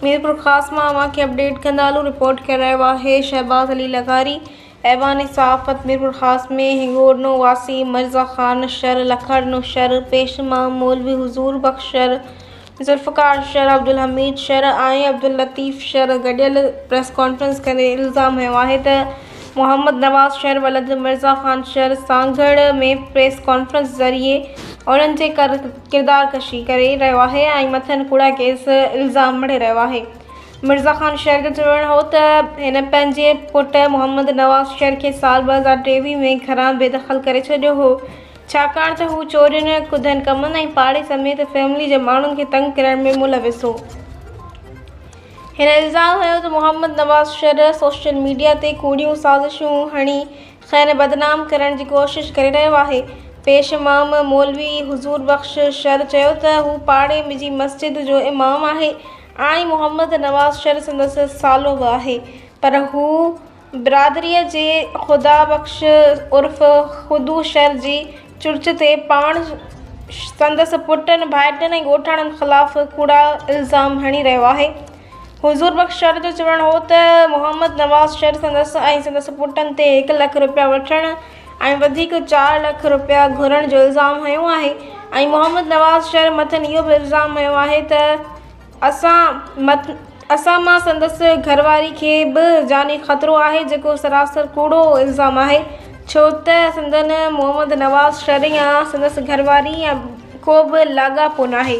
ميرپورخاص مان اوهان کي اپڊيٽ ڪندا هلون رپورٽ ڪرايو آهي شهباز علي لغاري ايوان صحافت ميرپورخاص ۾ هڱورنو واسي مرزا خان شر لکڻو شر پيش امام مولوي حضور بخش شر ذوالفقار شر عبدالحميد شر ۽ عبداللطيف شر گڏيل پريس ڪانفرنس ڪندي الزام هنيو آهي ته محمد نواز شر ولد مرزا خان شر سانگهڙ ۾ پريس ڪانفرنس ذريعي انهن جي ڪردار ڪشي ڪري رهيو آهي ۽ مٿن ڪوڙا ڪيس الزام مڙهي رهيو آهي مرزا خان شر جو چوڻ هو ته هن پنهنجي پٽ محمد نواز شر کي سال 2023 ۾ گهران بي دخل ڪري ڇڏيو هو ڇاڪاڻ ته هو چورين ڪڌن ڪمن ۽ پاڙي سميت فيملي جي ماڻهن کي تنگ ڪرڻ ۾ ملوث هو. هن الزام هنيو ته محمد نواز شرح سوشل ميڊيا تي ڪوڙيون سازشون هڻي کين بدنام ڪرڻ جي ڪوشش ڪري رهيو آهي. پيش امام مولوي حضور بخش شر چيو ته هو پاڙي جي مسجد جو امام آهي ۽ محمد نواز شر سندس سالو به آهي پر هو برادريء جي خدا بخش عرف خدو شر جي چرچ تي پاڻ، سندس پٽن، ڀائٽين ۽ ڳوٺاڻن خلاف ڪوڙا الزام هڻي رهيو آهي. حضور بخش شر جو چوڻ هو ته محمد نواز شر سندس ۽ سندس پٽن تي هڪ لک رپيا وٺڻ ۽ وڌيڪ چار لک رپيا گهرڻ جو الزام هنيو آهي ۽ محمد نواز شر مٿن اهو به الزام هنيو آهي ته اسان مت اسان مان سندس گهر واري کي به جاني خطرو آهي جيڪو سراسر ڪوڙو الزام آهي ڇو ته سندن محمد نواز شرح يا سندس گهر واري يا ڪو به لاڳاپو ناهي.